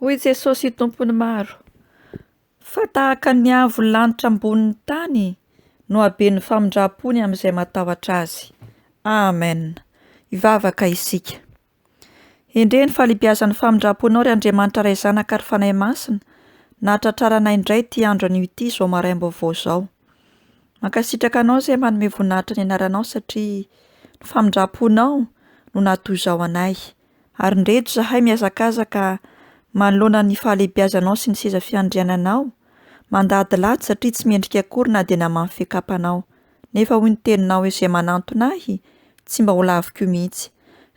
Hoy Jesosy Tompon'ny maro, fa tahaka ny avo lanitra ambonin'ny tany no haben'ny famindram-pony amin'izay matahotra azy. Amen. Hivavaka isika. Endrey ny fahalehibiazan'ny famindram-ponao ry Andriamanitra Ray Zanaka ary Fanahy Masina nahatratraranay indray ity andro anio ity izao maraim-baovao izao. Mankasitraka anao izay manome voninahitra ny anaranao satria ny famindram-ponao no nahatozao anay, ary indreto izahay mihazakazaka manoloana ny fahalehibiazanao sy ny seza fiandriananao, mandady latsy satria tsy mendrika akory na dia namaha ny fiakapanao. Nefa hoy ny teninao izay manantona ahy, tsy mba ho laviko mihitsy.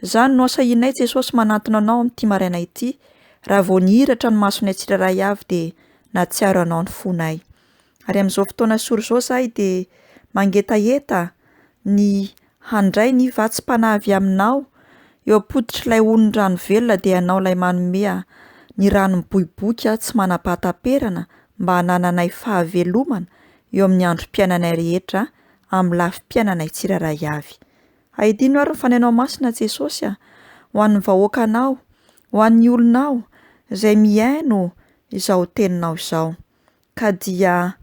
Izany no asahianay Jesosy manantona anao amin'ity maraina ity, raha vao nihiratra ny masonay tsirairay avy dia nahatsiaro anao ny fonay. Ary amin'izao fotoana sory izao izahay dia mangetaheta ny handray ny vatsim-panahy avy aminao, eo am-pototr'ilay onon'ny rano velona dia ianao ilay manome ny rano miboiboika tsy manam-pahataperana mba hanananay fahavelomana eo amin'ny androm-piainanay rehetra amin'ny lafim-piainanay tsirairay avy. Ahidino ary ny fanainao masina Jesosy a, ho an'ny vahoakanao, ho an'ny olonao izay mihaino izao teninao izao. Ka dia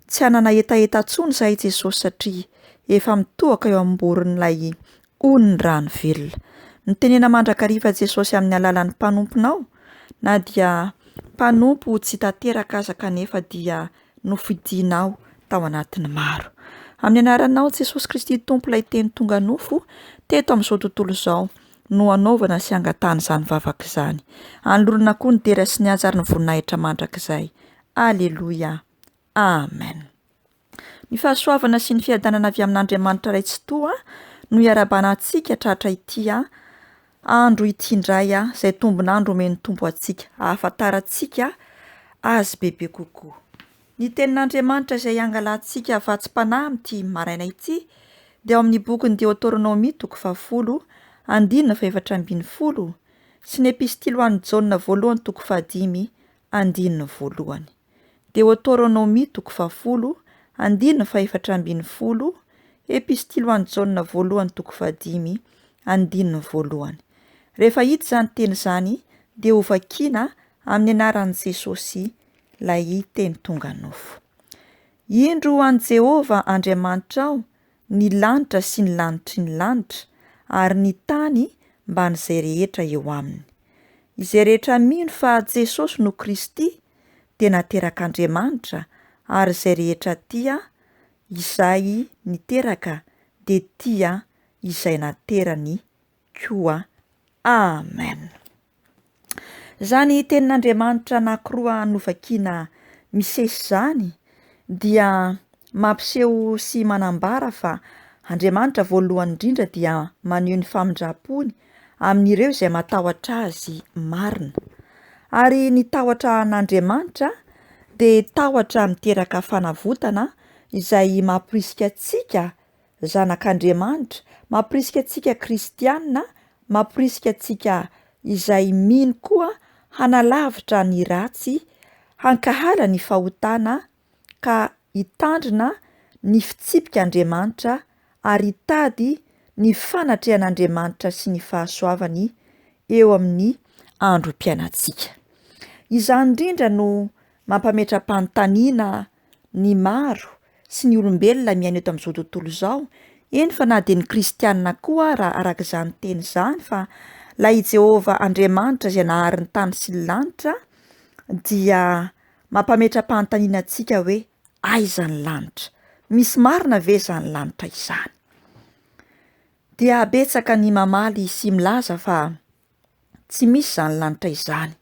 tsy hanana hetaheta intsony izahay Jesosy satria efa mitohaka eo amim-boron'ilay hoy ny rano velona. Mitenena mandrakariva Jesosy amin'ny alalan'ny mpanomponao na dia mpanompo tsy tanteraka aza kanefa dia nofidinao tao anatin'ny maro. Amin'ny anaranao Jesosy Kristy Tompo ilay Teny tonga nofo teto amin'izao tontolo izao no hanaovana sy hangatahana izany vavaka izany. Anolorana koa ny dera sy ny haja ary ny voninahitra mandrakizay. Aleloia. Amen. Ny fahasoavana sy ny fiadanana avy amin'Andriamanitra Ray Tsitoha no iarahabana antsika tratra ity andro ity indray izay tombon'andro omen'ny Tompo antsika hahafantarantsika Azy bebe kokoa. Ny Tenin'Andriamanitra izay iangalantsika vatsim-panahy amin'ity maraina ity dia ao amin'ny bokin'ny Deoteronomia toko fahafolo andininy fahefatra ambin'ny folo sy ny Epistily ho an'i Jaona voalohany toko fahadimy andininy voalohany. Deoteronomia toko fahafolo, andininy fahefatra ambin'ny folo, Epistilo an'i Jaona voalohany toko fahadimy, andininy voalohany. Rehefa hita izany teny izany dia hovakiana amin'ny anaran'i Jesosy ilay teny tonga nofo. Indro ho an'i Jehovah Andriamanitrao ny lanitra sy ny lanitry ny lanitra, ary ny tany mban'izay rehetra eo aminy. Izay rehetra mino fa Jesosy no Kristy dia naterak'Andriamanitra ary izay rehetra tia izay niteraka dia tia izay naterany koa. Amen. Izany tenin'Andriamanitra anankiroa novakina misesy izany dia mampiseho sy manambara fa Andriamanitra voalohany indrindra dia maneho ny famindram-pony amin'ireo izay matahotra azy marina. Ary ny tahotra an'Andriamanitra dia tahotra miteraka fanavotana izay mamporisika antsika zanak'Andriamanitra, mampirisika antsika kristiana, mampirisika antsika izay mino koa hanalavitra ny ratsy, hankahala ny fahotana ka hitandrina ny fitsipik'Andriamanitra ary hitady ny fanatrehan'Andriamanitra sy ny fahasoavany eo amin'ny androm-piainantsika. Izany indrindra no mampametra-panontaniana ny maro sy ny olombelona miaina eto amin'izao tontolo izao, eny fa na dia ny kristiana koa ara araka izany teny izany fa ilay i Jehovah Andriamanitra izay nahary ny tany sy ny lanitra dia mampametra-panontaniana antsika hoe aiza ny lanitra? Misy marina ve izany lanitra izany? Dia betsaka ny mamaly sy milaza fa tsy misy izany lanitra izany,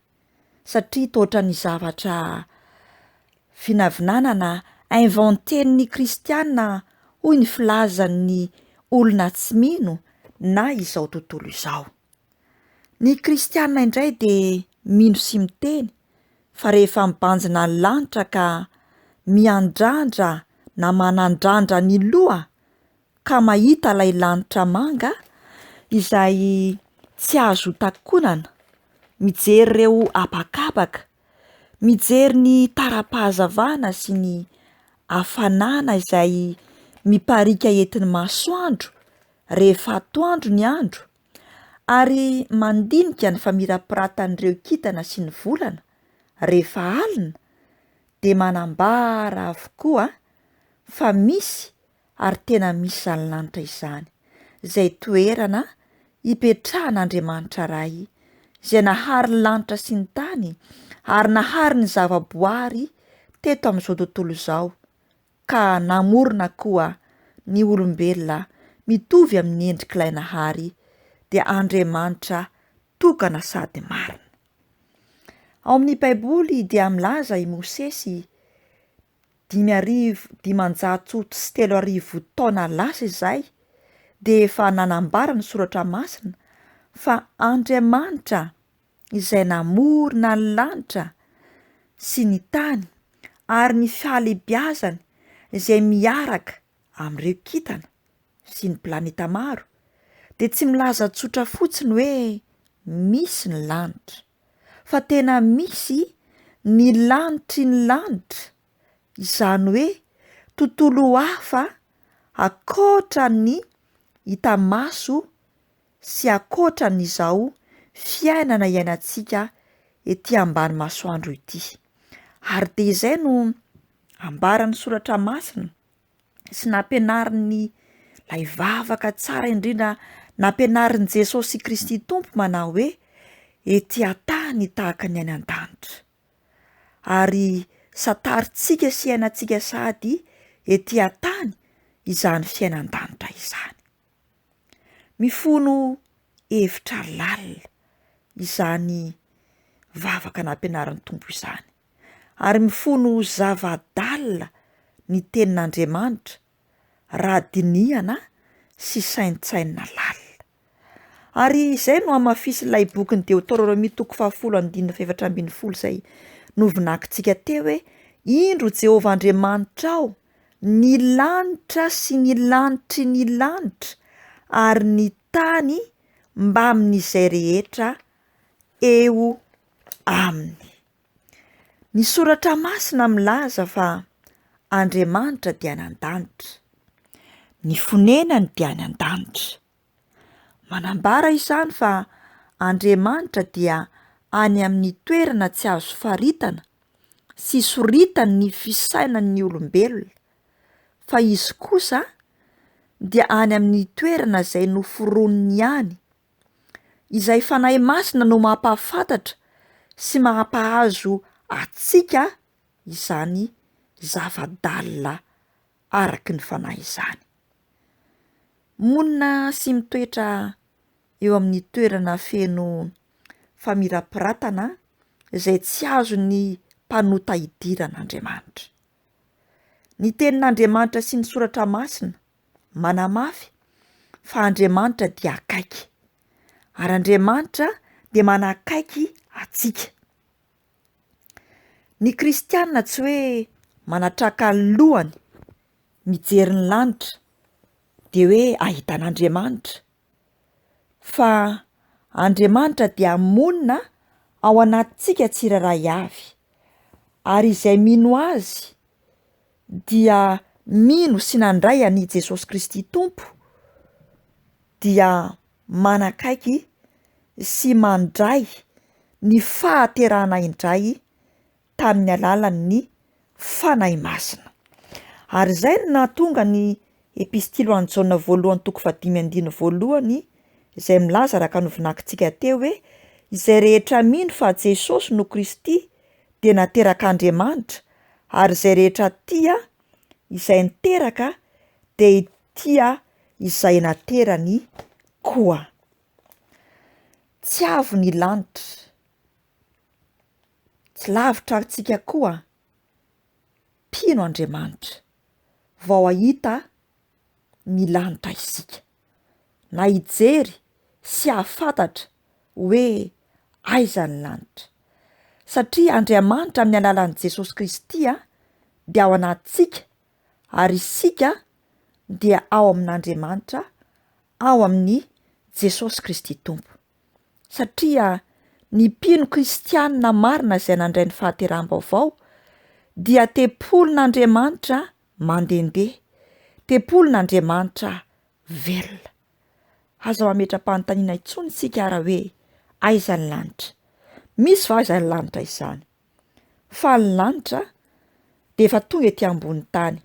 satria toa ohatran'ny zavatra vinavinana na inventen'ny kristiana hoy ny filazan'ny olona tsy mino na izao tontolo izao. Ny kristiana indray dia mino sy miteny fa rehefa mibanjina ny lanitra ka miandrandra na manandrandra ny loha ka mahita ilay lanitra manga izay tsy azo takonana, mijery ireo habakabaka, mijery ny tara-pahazavana sy ny hafanana izay mipariaka entin'ny masoandro rehefa atoandro ny andro, ary mandinika ny famirapiratan'ireo kintana sy ny volana rehefa alina, dia manambara avokoa fa misy ary tena misy izany lanitra izany, izay toerana ipetrahan'Andriamanitra Ray, izay nahary ny lanitra sy ny tany ary nahary ny zavaboary teto amin'izao tontolo izao, ka namorona koa ny olombelona mitovy amin'ny endrik'ilay nahary, dia Andriamanitra tokana sady marina. Ao amin'ny Baiboly dia milaza i Mosesy dimy arivo dimanjato sy telo arivo taona lasa izay dia efa nanambara ny soratra masina fa Andriamanitra izay namorona ny lanitra sy ny tany ary ny fahalehibiazany izay miaraka amin'ireo kintana sy ny planeta maro dia tsy milaza tsotra fotsiny hoe misy ny lanitra, fa tena misy ny lanitry ny lanitra, izany hoe tontolo hafa ankoatra ny hita maso sy ankoatran'izao fiainana iainantsika ety ambany masoandro ity. Ary dia izay no ambaran'ny soratra masina, sy nampianarin'ny lay vavaka tsara indrindra nampianarin'i Jesosy Kristy Tompo manao hoe ety an-tany tahaka ny any an-danitra ary santarintsika sy iainantsika sady ety an-tany izany fiainan-danitra izany. Mifono hevitra lalina izany vavaka nampianarin'ny Tompo izany. ary mifono ho zava-dalina ny Tenin'Andriamanitra raha dinihana sy saintsainina lalina. Ary izay no hamafisin'ilay bokin'i Deoteronomia toko fahafolo andininy fahefatra ambin'ny folo izay novinakintsika teo hoe Indro Jehovah Andriamanitrao, ny lanitra sy ny lanitry ny lanitra ary ny tany mbamin'izay rehetra eo aminy. Ny Soratra Masina milaza fa Andriamanitra dia any an-danitra. Ny fonenany dia any an-danitra. Manambara izany fa Andriamanitra dia any amin'ny toerana tsy azo faritana sy isoritan'ny fisainan'ny olombelona, fa izy kosa dia any amin'ny toerana izay noforonin'ny ihany, izay Fanahy Masina no mampahafantatra sy mampahazo antsika izany zava-dalina araky ny Fanahy izany. Monina sy mitoetra eo amin'ny toerana feno famirapiratana izay tsy azon'ny mpanota idiran'Andriamanitra. Ny Tenin'Andriamanitra sy ny Soratra Masina manamafy fa Andriamanitra dia akaiky ary Andriamanitra dia manakaiky antsika. Ny kristiana tsy hoe manatraka ny lohany mijery ny lanitra de hoe ahita an'Andriamanitra, fa Andriamanitra dia monina ao anatintsika tsirairay avy, ary izay mino Azy dia mino sy nandray an'i Jesosy Kristy Tompo dia manakaiky sy mandray ny fahaterahana indray tamin'ny alalan'ny Fanahy Masina. Ary izay no nahatonga ny Epistily ho an'i Jaona voalohany toko fahadimy andininy voalohany izay milaza araka novinakintsika teo hoe izay rehetra mino fa Jesosy no Kristy dia naterak'Andriamanitra ary izay rehetra tia izay niteraka dia hitia izay naterany koa. Tsy avo ny lanitra. Tsy lavitra antsika koa mpino Andriamanitra vao hahita ny lanitra isika, na hijery sy hahafantatra hoe aiza ny lanitra. Satria Andriamanitra amin'ny alalan'i Jesosy Kristy dia ao anatintsika ary isika dia ao amin'Andriamanitra ao amin'ny Jesosy Kristy Tompo. satria ny mpino kristianina marina izay nandray ny fahateraham-baovao dia tempolin'Andriamanitra mandehandeha, tempolin'Andriamanitra velona. Aza mametra-panontaniana intsony isika ara hoe aiza ny lanitra? Misy va izany lanitra izany? Fa ny lanitra dia efa tonga ety ambony tany,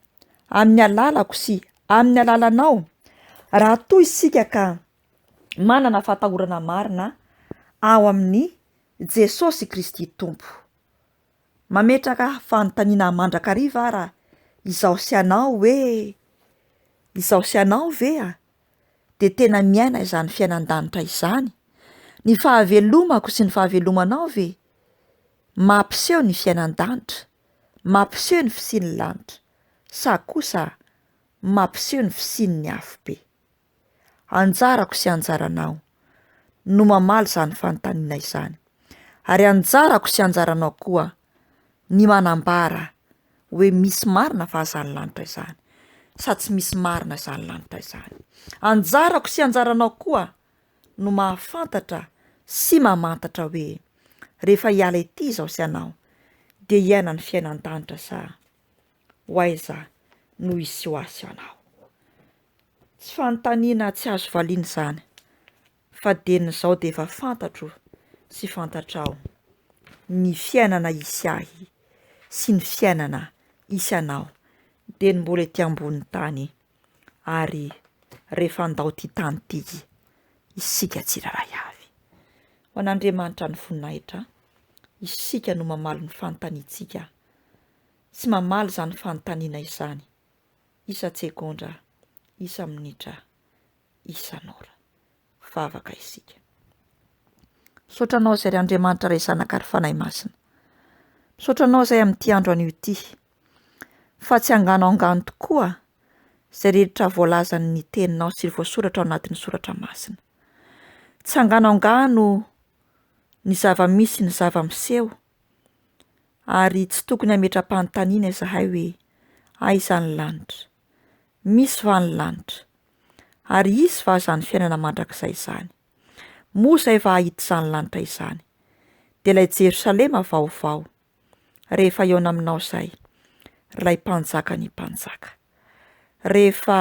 amin'ny alalako sy amin'ny alalanao, raha toa isika ka manana fatahorana marina ao amin'i Jesosy Kristy Tompo. Mametraka fanontaniana mandrakariva ara izaho sy anao hoe, izaho sy anao ve a, dia tena miaina izany fiainan-danitra izany? Ny fahavelomako sy ny fahavelomanao ve mampiseho ny fiainan-danitra, mampiseho ny fisian'ny lanitra, sa kosa mampiseho ny fisian'ny afobe? Anjarako sy anjaranao no mamaly izany fanontaniana izany. Ary anjarako sy anjaranao koa ny manambara hoe misy marina va izany lanitra izany sa tsy misy marina izany lanitra izany. Anjarako sy anjaranao koa no mahafantatra sy mamantatra hoe rehefa hiala ety izao sy ianao dia hiaina ny fiainan-danitra sa ho aiza no hisy ho azy ianao. Tsy fanontaniana tsy azo valiana izany fa dia ny izao dia efa fantatro sy fantatrao ny fiainana hisy ahy sy ny fiainana hisy anao dia ny mbola ety ambony tany ary rehefa handao ity tany ity isika tsirairay avy. Ho an'Andriamanitra ny voninahitra, isika no mamaly ny fanontaniantsika. Tsy mamaly izany fanontaniana izany isan-tsegondra, isan-minitra, isan'ora. Vavaka isika. Misaotra anao izay ry Andriamanitra Ray Zanaka ary Fanahy Masina. Misaotra anao izay amin'ity andro anio ity. Fa tsy angano angano tokoa izay rehetra voalazan'ny teninao sy voasoratra ao anatin'ny soratra masina. Tsy angano angano ny zava-misy ny zava-miseho ary tsy tokony hametra-panontaniana izahay hoe, Aiza ny lanitra? Misy va ny lanitra? Ary hisy va izany fiainana mandrakizay izany? Moa izay va hahita izany lanitra izany? Dia ilay Jerosalema vaovao, rehefa hihaona aminao izay, ilay mpanjaka ny mpanjaka. Rehefa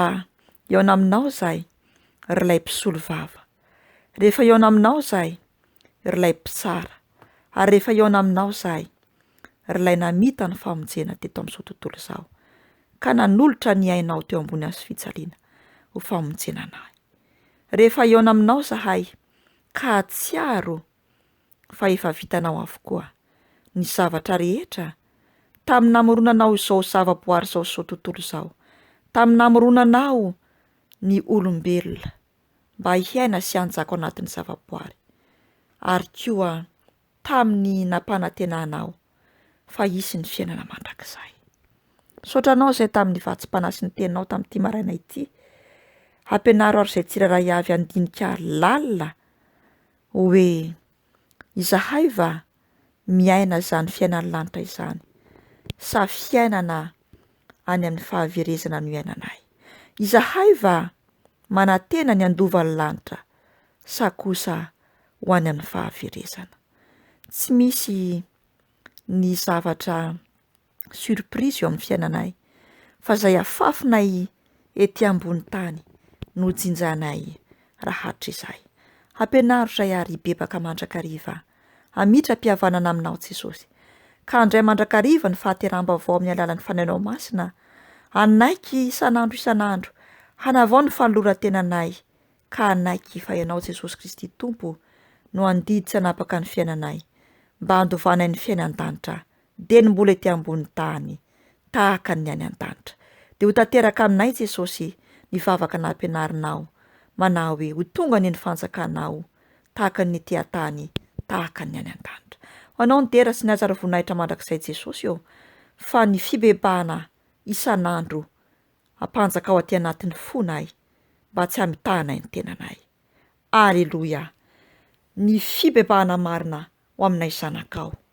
hihaona aminao izay, ry ilay mpisolo vava. Rehefa hihaona aminao izay, ry lay mpitsara ary rehefa hihaona aminao zahay ry lay namita ny famonjena teto amin'izao tontolo izao ka nanolotra ny ainao teo ambony azo fijaliana ho famonjena anahy rehefa hihaona aminao zahay ka hatsiaro fa efa vitanao avokoa ny zavatra rehetra tamin'ny namoronanao izao zavaboary izao izao tontolo izao tamin'ny namoronanao ny olombelona mba hiaina sy hanjaka ao anatin'ny zavaboary. Ary koa tamin'ny nampanantenana aho fa hisy ny fiainana mandrakizay. Misaotra anao izay tamin'ny vatsim-panahy sy ny teninao tamin'ity maraina ity. Hampianaro ary izay tsirairay avy handinika lalina hoe Izahay va miaina izany fiainan'ny lanitra izany sa fiainana any amin'ny fahaverezana no iainanay? Izahay va manantena ny handovan'ny lanitra sa kosa ho any amin'ny fahaverezana? Tsy misy ny zavatra surprise eo amin'ny fiainanay fa izay afafinay ety ambony tany no jinjanay raha hatrizay. Hampianaro izay ary hibebaka mandrakariva. Hamitra-pihavanana aminao Jesosy. Ka handray mandrakariva ny fahateraham-baovao amin'ny alalan'ny fanainao masina, hanaiky isan'andro isan'andro, hanavao ny fanoloran-tenanay, ka hanaiky fa ianao Jesosy Kristy Tompo no handidy tsy hanapaka ny fiainanay, mba handovanay ny fiainan-danitra dia ny mbola ety ambony tany tahaka ny any an-danitra. Dia ho tanteraka aminay Jesosy ny vavaka nampianarinao manahy hoe ho tonga ny ny fanjakanao tahaka ny ety an-tany tahaka ny any an-danitra. Ho anao ny dera sy ny hajar voninahitra mandrakizay Jesosy ô, fa ny fibebahana isan'andro ampanjakao aty anatin'ny fonay mba tsy hamitahanay ny tenanay. Aleloia! Ny fibebahana marina ho aminay zanakao.